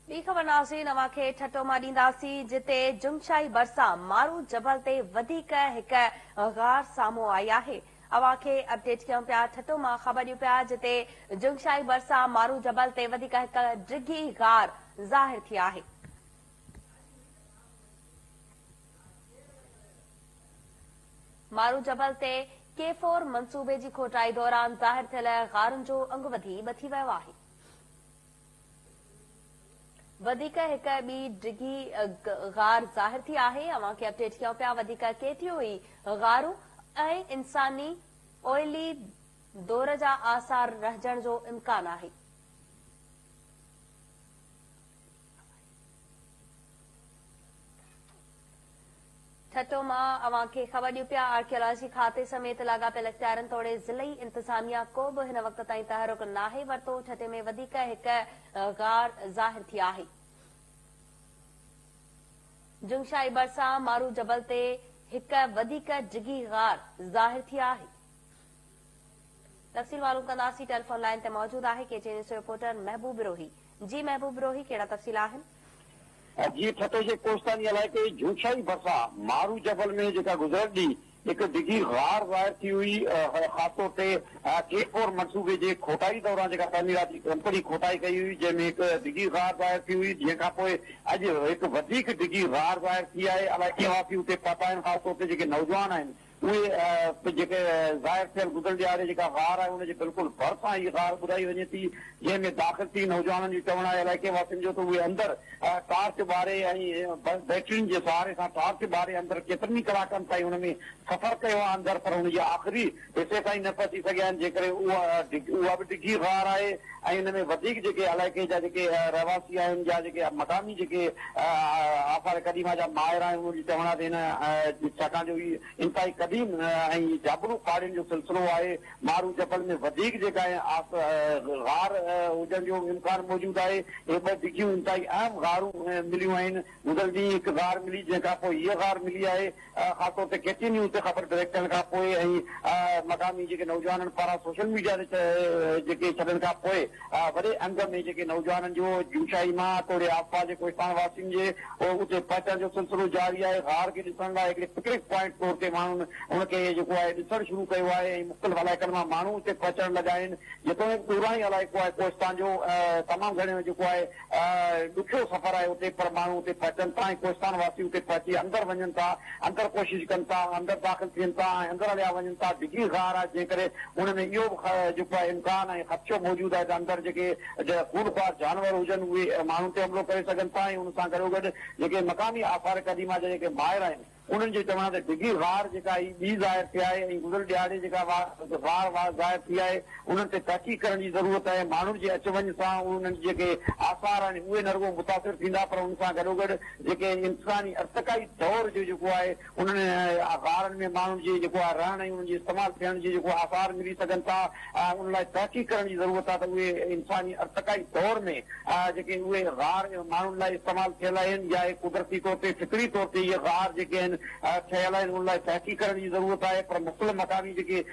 ٻي خبر ناظرين اوهان کي ٺٽو مان ڏينداسين جتي جمشائي ڀرسان مارو جبل تي وڌيڪ هڪ غار سامهون آئي آهي اوهان کي اپڊيٽ ڪيون پيا ٺٽو مان خبر ڏيون پيا جتي جمشائي ڀرسان مارو جبل تي وڌيڪ هڪ ڊگهي غار ظاهر ٿي آهي مارو جبل تي ڪي فور منصوبي جي کوٽائي دوران ظاهر ٿيل غارن جو انگ وڌي ٻه ٿي ويو آهي. وڌيڪ هڪ ٻي ڊگهي غار ظاهر ٿي آهي اوهان کي اپڊيٽ ڪيون پيا وڌيڪ ڪي ٽي او اي غارون ۽ انساني اوئلي دور جا آثار رهجڻ جو امڪان آهي. ٺٽو مان اوهان کي خبر ڏيون پيا آرڪيالاجي کاتي سميت لاڳاپيل اختيارين توڙي ضلعي انتظاميا ڪو به هن وقت تائين تحرڪ ناهي ورتو ٺٽي ۾ وڌيڪ هڪ غار ظاهر ٿي آهي جنگشاهي ڀرسان مارو جبل تي هڪ وڌيڪ ڊگهي غار ظاهر ٿي آهي تفصيل معلوم ڪنداسين ٽيليفون لائين تي موجود آهي ڪي ٽي نيوز جو رپورٽر محبوب بروهي جي محبوب بروهي ڪهڙا تفصيل آهن. جي ٺٽي جي ڪوستاني علائقي جھونشاھي ڀرسان مارو جبل ۾ جيڪا گذريل ڏينهن هڪ ڊگهي غار ظاهر ٿي هئي خاص طور تي ڪي فور منصوبي جي کوٽائي دوران جيڪا تعميراتي ڪمپني کوٽائي ڪئي هئي جنهن ۾ هڪ ڊگهي غار ظاهر ٿي هئي جنهن کانپوء اڄ هڪ وڌيڪ ڊگهي غار ظاهر ٿي آهي علائقي واسي اتي پهتا آهن خاص طور تي جيڪي نوجوان آهن اهي به جيڪي ظاهر ٿيل گذريل ڏهاڙي جيڪا غار آهي ان جي بلڪل ڀرسان هي غار ٻڌائي وڃي ٿي جنهن ۾ داخل ٿي نوجوانن جو چوڻ آهي علائقي واسين جو ته اهي اندر ٽارچ ٻاري ۽ بيٽرين جي سهاري سان ٽارچ ٻاري اندر ڪيترن ئي ڪلاڪن تائين ان ۾ سفر ڪيو آهي اندر پر ان جي آخري حصي تائين نه پهچي سگهيا آهن جيڪڏهن اها به ڊگهي غار آهي ۽ ان ۾ وڌيڪ جيڪي علائقي جا جيڪي رهواسي آهن يا جيڪي مقامي جيڪي آثار قديمه جا ماهر آهن انهن جو چوڻ آهي ته هن ڇاڪاڻ جو هي انتهائي قديم ۽ جابلو پاڙين جو سلسلو آهي مارو جبل ۾ وڌيڪ جيڪا غار هجڻ جو امڪان موجود آهي هي ٻه ڊگهيون انتهائي اهم غارون مليون آهن گذريل ڏينهن هڪ غار ملي جنهن کانپوء هيء غار ملي آهي خاص طور تي ڪي ٽي نيوز تي خبر ڊائريڪٽ ٿيڻ کان پوء ۽ مقامي جيڪي نوجوانن پاران سوشل ميڊيا تي جيڪي ڇڏڻ کان پوء وڏي انگ ۾ جيڪي نوجوانن جو جوشائي مان توڙي آسپاس جي ڪوهستان واسين جي اتي پهچڻ جو سلسلو جاري آهي غار کي ڏسڻ لاء هڪڙي پڪنڪ پوائنٽ طور تي ماڻهن ان کي جيڪو آهي ڏسڻ شروع ڪيو آهي ۽ مختلف علائقن مان ماڻهو اتي پهچڻ لڳا آهن جيتوڻيڪ ڏورانهين علائقو آهي ڪوهستان جو تمام گهڻو جيڪو آهي ڏکيو سفر آهي اتي پر ماڻهو اتي پهچن ٿا ۽ ڪوهستان واسي اتي پهچي اندر وڃن ٿا اندر ڪوشش ڪن ٿا اندر داخل ٿين ٿا ۽ اندر هليا وڃن ٿا ڊگهي غار آهي جنهن ڪري ان ۾ اهو به جيڪو آهي امڪان ۽ خدشو موجود آهي ته اندر جيڪي خونخوار جانور هجن اهي ماڻهن تي حملو ڪري سگهن ٿا ۽ ان سان گڏوگڏ جيڪي مقامي آثار قديمه جا جيڪي ماهر آهن انهن جو چوڻ آهي ته ڊگهي واهر جيڪا هي ٻي ظاهر ٿي آهي ۽ گذريل ڏهاڙي جيڪا واهر واهر ظاهر ٿي آهي انهن تي تحقيق ڪرڻ جي ضرورت آهي، ماڻهن جي اچ وڃ سان انهن جي جيڪي آثار آهن اهي نه رڳو متاثر ٿيندا پر ان سان گڏوگڏ جيڪي انساني ارتقائي دور جو جيڪو آهي انهن واهرن ۾ ماڻهن جي جيڪو آهي رهڻ ۽ انهن جي استعمال ٿيڻ جي جيڪو آثار ملي سگهن ٿا. ان لاء تحقيق ڪرڻ جي ضرورت آهي ته اهي انساني ارتقائي دور ۾ جيڪي اهي غار ماڻهن لاء استعمال ٿيل آهن يا اهي قدرتي طور تي فطري طور تي اهي غار جيڪي آهن ٺهيل آهن ان لاء تحقيق ڪرڻ جي ضرورت آهي پر مختلف مقامي جيڪي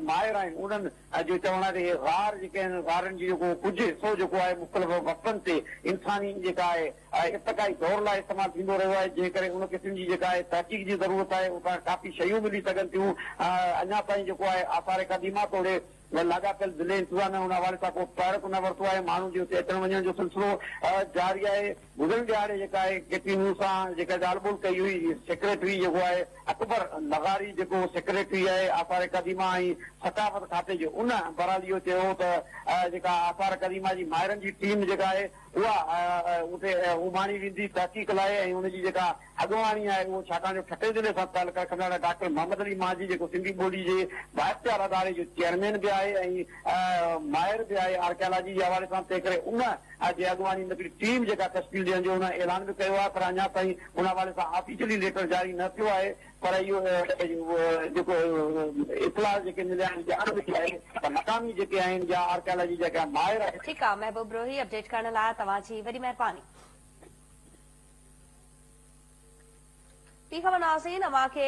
ماهر آهن انهن جو چوڻ آهي ته اهي غار جيڪي آهن غارن جي جيڪو ڪجهه حصو جيڪو آهي مختلف وقتن تي انساني جيڪا آهي آهي، ارتقائي دور لاء استعمال ٿيندو رهيو آهي، جنهن ڪري ان قسم جي جيڪا آهي تحقيق جي ضرورت آهي، اتان ڪافي شيون ملي سگهن ٿيون، اڃا تائين جيڪو آهي آثار قديمه توڙي لاڳاپيل ضلعي انتظاميا ان حوالي سان ڪو تحرڪ نه ورتو آهي، ماڻهن جي اتي اچڻ وڃڻ جو سلسلو جاري آهي، گذريل ڏهاڙي جيڪا آهي ڪي ٽي نيوز سان جيڪا ڳالهه ٻولهه ڪئي هئي، سيڪريٽري جيڪو آهي اڪبر لغاري جيڪو سيڪريٽري آهي آثار قديمه ۽ ثقافت کاتي جو ان بحرحال اهو چيو هو ته جيڪا آثار قديمه جي ماهرن جي ٽيم جيڪا آهي اها اتي اڀاڻي ويندي تحقيق لاء ۽ ان جي جيڪا اڳواڻي آهي اهو ڇاڪاڻ جو ٺٽي ضلعي سان تعلق رکندڙ آهي ڊاڪٽر محمد علي مانجهي جيڪو سنڌي ٻولي جي بااختيار اداري جو چيئرمين به آهي ۽ ماهر به آهي آرڪيالاجي جي حوالي سان تنهنڪري ان جي اڳواڻي ۾ هڪڙي ٽيم جيڪا تشڪيل ڏيڻ جو انهن اعلان به ڪيو آهي پر اڃا تائين ان حوالي سان آفيشلي ليٽر جاري نه ٿيو آهي پر اهو جيڪو اطلاع جيڪي مليا آهن ڄاڻ ملي آهي ته مقامي جيڪي آهن يا آرڪيالاجي جا ڪا ماهر آهن. ٺيڪ آ محبوب روهي اپڊيٽ ڪرڻ لا توهان جي وڏي مهرباني. ٺيڪ آ ناظرين اوهان کي